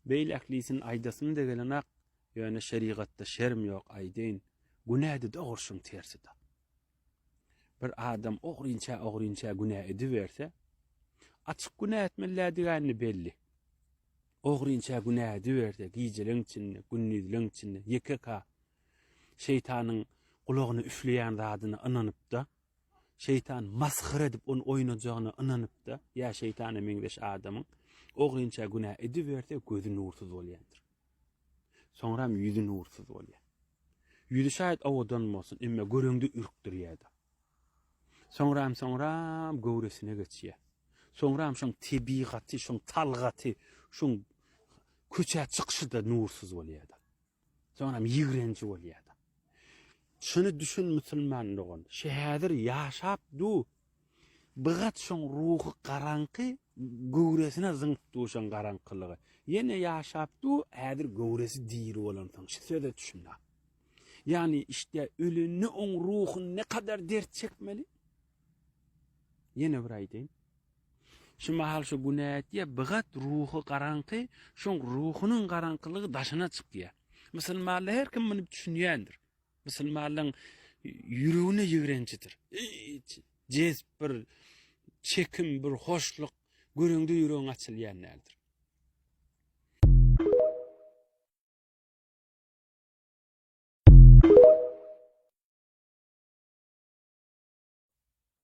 Beýleklisini aýdasymda gelenok, ýöne şerigatda şerm ýok aýdaýyn, günäde dogruşyň tersida. Bir adam ogrynça-ogrynça günä ediberse, açyk günä etmelidigäni belli. Ogrynça günä ediberse, gijeleň içinde, gündizleň içinde ýeke-ka şeýtanyň gulagyna üfleýän zadyna ynanypda, Şeýtan masgara edip ony oýnajagyna ynanyp-da, ýa şeýtana meňzeş adamyň ogrynça günä ediberse gözi nursuz bolýandyr. Soňram ýüzi nursuz bolýar. Ýüzi şaýat owadan bolsun, emma göreňde ürkdirýär-de. Soňram, soňram göwresine geçýär. Soňram şoň tebigaty, şoň talgaty, şoň köçä çykyşy-da nursuz bolýar-da. Soňam ýigrenji bolýada. Şuny düşün musulman dogan, şu häzir ýaşap du bgat şoň ruhy garaňky göwresine zyňyp du şoň garaňkylygy. Ýene ýaşap du häzir göwresi diri bolansoň şu söze düşün a. Ýani işte ölende oň ruhy ne kadar dert çekmeli? Ýene bir aýdaýyn. Şu mahal şu günä etýär, bigat ruhy garaňky, şoň ruhunyň garaňkylygy daşyna çykýar. Musulmanlar her kim muny düşünýändir. Musulmanlaryň ýüregine ýigrenjidir. Hiç jez bir çekim, bir hoşluk göreňde ýüregiň açylýan däldir.